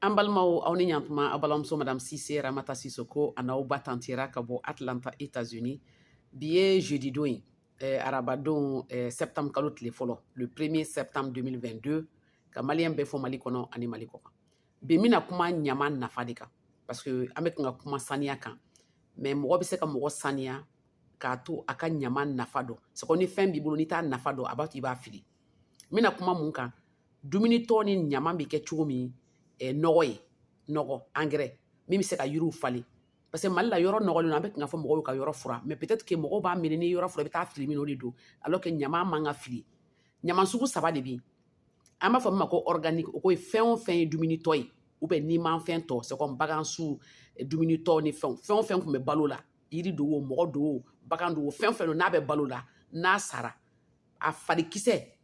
an balimaw aw ni ɲantuma aw balimamuso madame sise ramata sisoko a n'aw ba tanti ra ka bɔ atlanta états unis bi ye jeudi don ye eh, arabadon eh, septembre kalo tile fɔlɔ le premier septembre 2022 ka maliyɛn bɛɛ fo mali kɔnɔ ani mali kɔkan bi n bɛna kuma ɲama nafa de kan parce que an bɛ kan ka kuma saniya kan mais mɔgɔ bɛ se ka mɔgɔ saniya k'a to a ka ɲama nafa dɔn c'est comme ni fɛn b'i bolo n'i t'a nafa dɔn a b'a to i b'a fili n bɛna kuma mun kan dumuni tɔ ni ɲama bɛ kɛ cogo min ɛ eh, nɔgɔ ye nɔgɔ engrais min bɛ se ka yiriw falen parce que mali la yɔrɔ nɔgɔlen don an bɛ kan ka fɔ mɔgɔw y'u ka yɔrɔ fura mais peut-être que mɔgɔw b'a miiri ni yɔrɔ fura i bɛ taa fili min o de don alors que ɲama man ka fili ɲama sugu saba de bɛ yen an b'a fɔ min ma ko organique o ko ye fɛn o fɛn ye dumuni tɔ ye ou bien nimafɛn tɔ c'est comme bagan su eh, dumuni tɔ ni fɛnw fɛn o fɛn tun bɛ balo la yiri don o mɔgɔ don o bagan don o fɛn o fɛn don n'a bɛ balo la n'a sara a farikisɛ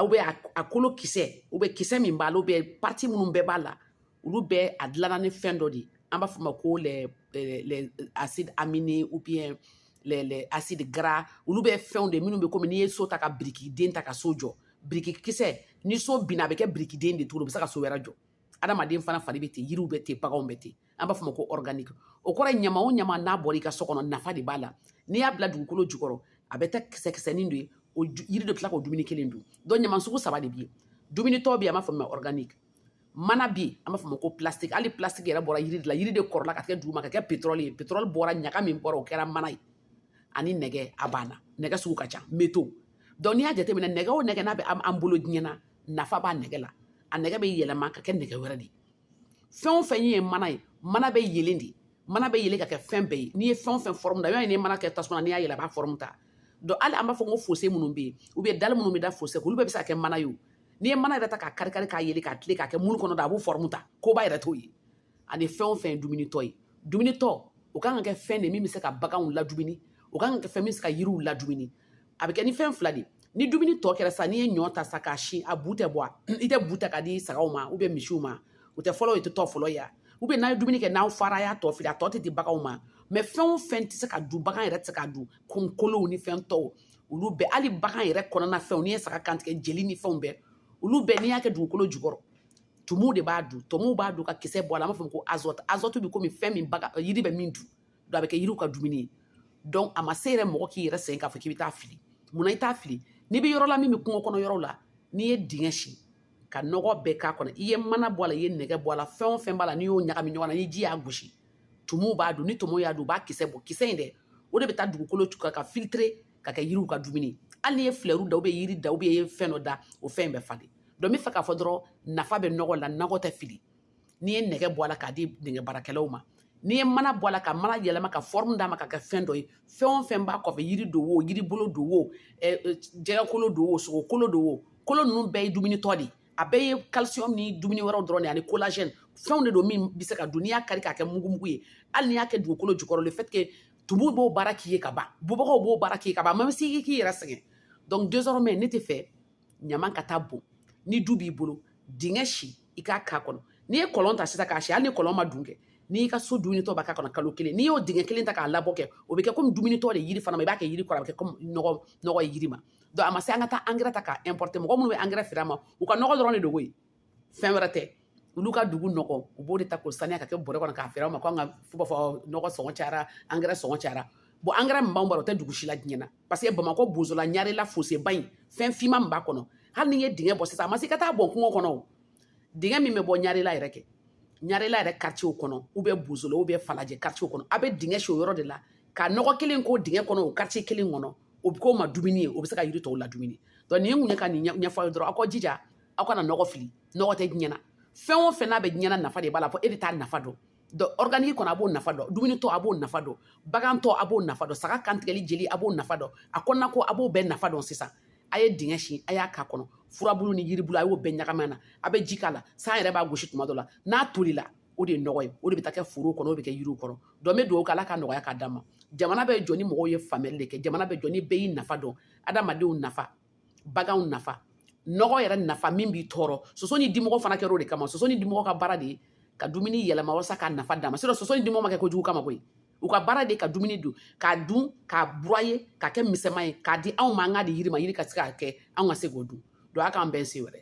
ou bien a kolo kisɛ ou bien kisɛ min b'a la ou bien partie minnu bɛɛ b'a la olu bɛɛ a dilanna ni fɛn dɔ de ye an b'a fɔ ma ko les les acides aminés ou bien les les acides gras olu bɛ fɛnw de minnu bɛ komi n'i ye so ta ka birikiden ta ka so jɔ biriki kisɛ ni so binna a bɛ kɛ birikiden de tuguni o bɛ se ka so wɛrɛ jɔ adamaden fana fari bɛ ten yiriw bɛ ten baganw bɛ ten an b'a fɔ ma ko organique o kɔrɔ ye ɲama o ɲama n'a bɔra i ka so kɔnɔ nafa de b'a la n'i y'a bila dugukolo jukɔrɔ a bɛ taa kisɛ kisɛnin de ye o yiri de tila k'o dumuni kelen dun donc ɲama sugu saba de bɛ yen dumunitɔ bɛ yen an b'a fɔ ma organique mana bɛ yen an b'a fɔ ma ko plastique hali plastique yɛrɛ bɔra yiri de la yiri de kɔrɔla ka kɛ duguma ka kɛ pétrole ye pétrole bɔra ɲaga min bɔra o kɛra mana ye ani nɛgɛ a banna nɛgɛ sugu ka ca métaux donc n'i y'a jateminɛ nɛgɛ o nɛgɛ n'a bɛ an bolo diɲɛ na nafa b'a nɛgɛ la a nɛgɛ bɛ yɛlɛma ka kɛ nɛgɛ wɛrɛ de ye fɛn o fɛn ye mana ye mana bɛ yelen de mana bɛ yelen ka kɛ fɛn bɛɛ ye n'i ye fɛn o fɛn forme da i b'a ye n'i ye mana kɛ tasuma na n'i y'a yelen a b'a forme ta donc hali an b'a fɔ ko fossé minnu bɛ yen ou bien dalle minnu bɛ da fossé olu bɛɛ bɛ se ka kɛ mana ye o n'i ye mana yɛrɛ ta k'a kari kari k'a yelen ka tila k'a kɛ moule kɔnɔ da a b'o forme ta koba yɛrɛ t'o ye ani fɛn o fɛn ye dumunitɔ ye dumunitɔ o kan ka kɛ fɛn de min bɛ se ka baganw ladumuni o kan ka kɛ fɛn min bɛ se ka yiriw ladumuni a bɛ kɛ ni fɛn fila de ye ni dumuni tɔ kɛra sa n'i ye ɲɔ ta sa k'a si a bu tɛ bɔ a i tɛ bu ta k'a di sagaw ma ou bien misiw ma o tɛ fɔlɔ o tɛ tɔ fɔlɔ ye ou bien n'a ye dumuni kɛ n'aw fara y'a tɔ fili a tɔ tɛ di baganw ma mais fɛn o fɛn tɛ se ka dun bagan yɛrɛ tɛ se ka dun comme kolow ni fɛn tɔw olu bɛɛ hali bagan yɛrɛ kɔnɔna fɛnw n'i ye saga kantigɛ jeli ni fɛnw bɛɛ olu bɛɛ n'i y'a kɛ dugukolo jukɔrɔ tumuw de b'a dun tumuw b'a dun ka kisɛ bɔ a la an b'a fɔ ko azote azote bɛ komi fɛn min baga yiri bɛ min dun donc a bɛ kɛ yiriw ka dumuni ye donc a ma se yɛrɛ mɔgɔ k'i yɛrɛ sɛgɛn k'a fɔ k'i bɛ taa fili munna i t'a fili n'i bɛ yɔrɔ la min bɛ kungo kɔnɔ yɔrɔ la n'i ye dingɛ si ka nɔgɔ bɛɛ k'a kɔnɔ i ye mana bɔ a la i ye nɛgɛ bɔ a la fɛn o fɛn b'a la n'i y'o ɲagami ɲɔgɔn na ni ji y'a gosi tumuw b'a dun ni tumuw y'a dun u b'a kisɛ bɔ kisɛ in dɛ o de bɛ taa dugukolo cogoya ka filtrer ka kɛ yiriw ka dumuni hali n'i ye filɛriw da ou bien yiri da ou bien fɛn dɔ da o fɛn in bɛ falen donc n bɛ fɛ k'a fɔ dɔrɔn nafa bɛ nɔgɔ la nɔgɔ tɛ fili n'i ye nɛgɛ bɔ a la k'a di nɛgɛ baarakɛlaw ma n'i ye mana bɔ a la ka mana yɛlɛma ka fɔrɔmu d'a ma ka kɛ fɛn dɔ ye fɛn o fɛn b'a kɔfɛ yiri don o yiri bolo don o jɛgɛkolo don o sogokolo don o kolo ninnu bɛɛ ye dumunitɔ de ye a bɛɛ ye calcium ni dumuni wɛrɛw dɔrɔn de ani collagène fɛnw de don min bɛ se ka dun n'i y'a kari k'a kɛ mugumugu ye hali n'i y'a kɛ dugukolo jukɔrɔ le fait que tumu b'o baara k'i ye ka ban bubagaw b'o baara k'i ye ka ban a ma se i k'i yɛrɛ sɛgɛn donc désormais ne tɛ fɛ ɲama ka taa bɔn ni du b'i bolo dingɛ si i k'a k'a kɔnɔ n'i ye kɔlɔn ta sisan k'a si hali ni kɔlɔn man dun kɛ n'i y'i ka so dumunitɔ bɛɛ k'a kɔnɔ kalo kelen n'i y'o dingɛ kelen ta k'a labɔ kɛ o bɛ kɛ komi dumunitɔ de yiri fana ma i b'a kɛ yiri kɔrɔ a bɛ kɛ komi nɔgɔ nɔgɔ ye yiri ma donc a ma se an ka taa angɛrɛ ta k'a importer mɔgɔ minnu bɛ angɛrɛ feere an ma u ka nɔgɔ dɔrɔn de dogo ye fɛn wɛrɛ tɛ olu ka dugu nɔgɔ u b'o de ta k'o saniya ka kɛ bɔrɛ kɔnɔ k'a feere an ma ko an ka fo b'a fɔ nɔgɔ sɔngɔ cayara angɛrɛ sɔngɔ cayara bon angɛrɛ min b'an bolo o tɛ dugu si la diɲɛ na parce que bamakɔ bozola ɲarela foseba in fɛn fima min b'a kɔnɔ hali n'i ye dingɛ bɔ sisan a ma se ka taa bɔn kungo kɔnɔ o dingɛ min bɛ bɔ ɲarela yɛrɛ kɛ ɲarela yɛrɛ karitiye kɔnɔ ou bien bozola ou bien falajɛ karitiye kɔnɔ a bɛ dingɛ si o yɔrɔ de la ka nɔgɔ kelen k'o dingɛ kɔnɔ o karitiye kelen kɔnɔ o bɛ k'o ma dumuni ye o bɛ se ka yiri tɔw ladumuni donc nin ye mun ye ka nin ɲɛfɔ aw ye dɔrɔn aw ka jija aw kana nɔgɔ fili nɔgɔ tɛ diɲɛ na fɛn o fɛn n'a bɛ diɲɛ na nafa de b'a la fo e de t'a nafa dɔn organique kɔnɔ a b'o nafa dɔn dumunitɔ a b'o nafa dɔn bagantɔ a b'o nafa dɔn saga kantigɛli jeli a b'o nafa dɔn a kɔnɔna ko a b'o bɛɛ nafa dɔn sisan a ye dingɛ sin a y'a k'a kɔnɔ furabulu ni yiribulu a y'o bɛɛ ɲagami na a bɛ ji k'a la san yɛrɛ b'a gosi tuma dɔ la n'a tolila o de ye nɔgɔ ye o de bɛ taa kɛ foro kɔnɔ o bɛ kɛ yiriw kɔrɔ donc n bɛ dugawu kɛ ala ka nɔgɔya k'a d'an ma jamana bɛ jɔ ni mɔgɔw ye faamuyali de kɛ jamana bɛ jɔ ni bɛɛ y'i nafa dɔn adamadenw nafa baganw nafa nɔgɔ yɛrɛ nafa min b'i tɔɔrɔ soso ni dimɔgɔ fana kɛra o de kama soso ni dimɔgɔ ka baara de ye ka dumuni yɛlɛma walasa k'a nafa d'an ma sinon soso ni dimɔgɔ ma kɛ kojugu kama koyi u ka baara de ka dumuni dun k'a dun k'a broyer k'a kɛ misɛnman ye k'a di anw ma an k'a di yiri ma yiri ka se k'a kɛ anw ka se k'o dun donc a k'an bɛn sen wɛrɛ